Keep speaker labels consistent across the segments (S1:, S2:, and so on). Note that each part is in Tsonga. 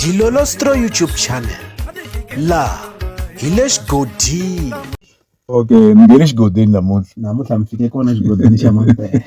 S1: Dilolostro YouTube channel laha hi le xigodini okay
S2: ni nge le xigodini namuntlha namuntlha mi fike kona xigodini xa mampela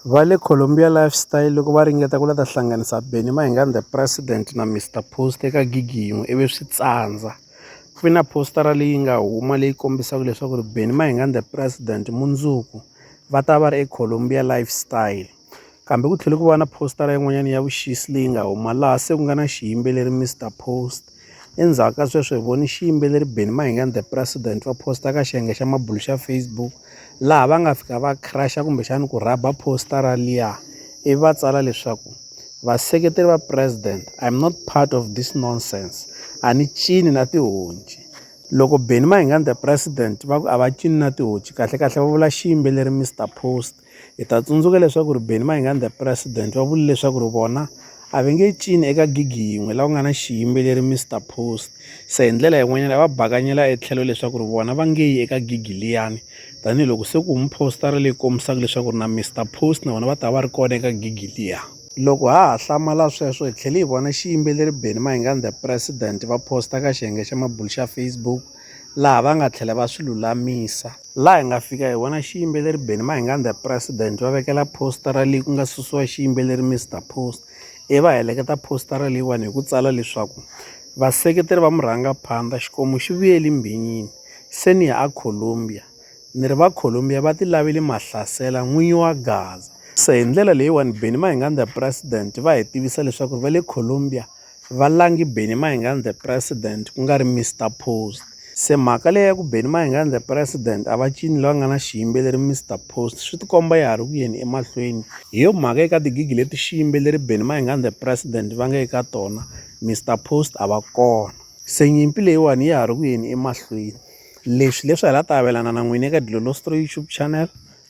S1: va le colombia lifestyle loko va ringeta ku la ta hlanganisa benny mahingani the president na mr post eka gigi yin'we ivi swi tsandza ku ve na postara leyi nga huma leyi kombisaka leswaku ri benny mahingani the president mundzuku va ta va ri ecolombia lifestyle Kambe ku tlhele ku va na phositara yin'wana ya vuxisi leyi nga huma laha se ku nga na xiyimbeleri Mister Post. Endzhaku ka sweswo hi vone xiyimbeleri Benny Mayengani The President va posta ka xiyenge xa mabulo xa Facebook laha va nga fika va crush-a kumbexana ku rhaba phositara liya ivi va tsala leswaku vaseketeri va President I am not part of this nonsense a ni cini na tihonci. Loko Benny Mayengani The President va ku a va cini na tihonci kahlekahle va vula xiyimbeleri Mister Post Hi ta tsundzuka leswaku ri Benny Mayengani the President va vule leswaku ri vona a va nge cini eka gigi yin'we la ku nga na xiyimbeleri Mister Post, se hi ndlela yin'wanyana va bakanyela etlhelo leswaku ri vona va nge yi eka gigi liyani tanihiloko se ku humi poster-a leyi kombisaka leswaku ri na Mister Post na vona va ta va ri kona eka gigi liya. Loko ha ha hlamala sweswo hi tlhele hi vona xiyimbeleri Benny Mayengani the President va post-a ka xiyenge xa mabulo xa Facebook, laha va nga tlhela va swi lulamisa. Laha hi nga fika hi vona xiyimbeleri Benny Mahingani the President va vekela phositara leyi ku nga susiwa xiyimbeleri Mister Post ivi va heleketa phositara leyiwani hi ku tsala leswaku vaseketeri va murhangaphandza xikomu xi vuyeli mbhinyini se ni ya a Columbia ni ri va Columbia va ti laveli mahlasela n'winyi wa Gaza se hi ndlela leyiwani Benny Mahingani the President va hi tivisa leswaku va le Columbia. Va langi Benny Mayengani the President ku nga ri Mister Post. Se mhaka leyi ya ku Benny Mayengani the President a va cini loyi a nga na xiyimbeleri Mister Post swi ti komba ya ha ri ku yeni emahlweni. Hi yo mhaka eka tigigi leti xiyimbeleri Benny Mayengani the President va nga eka tona Mister Post a va kona. Se nyimpi leyiwani ya ha ri ku yeni emahlweni. Leswi leswi hi la ta avelana na n'wina eka Dilolo Story YouTube channel.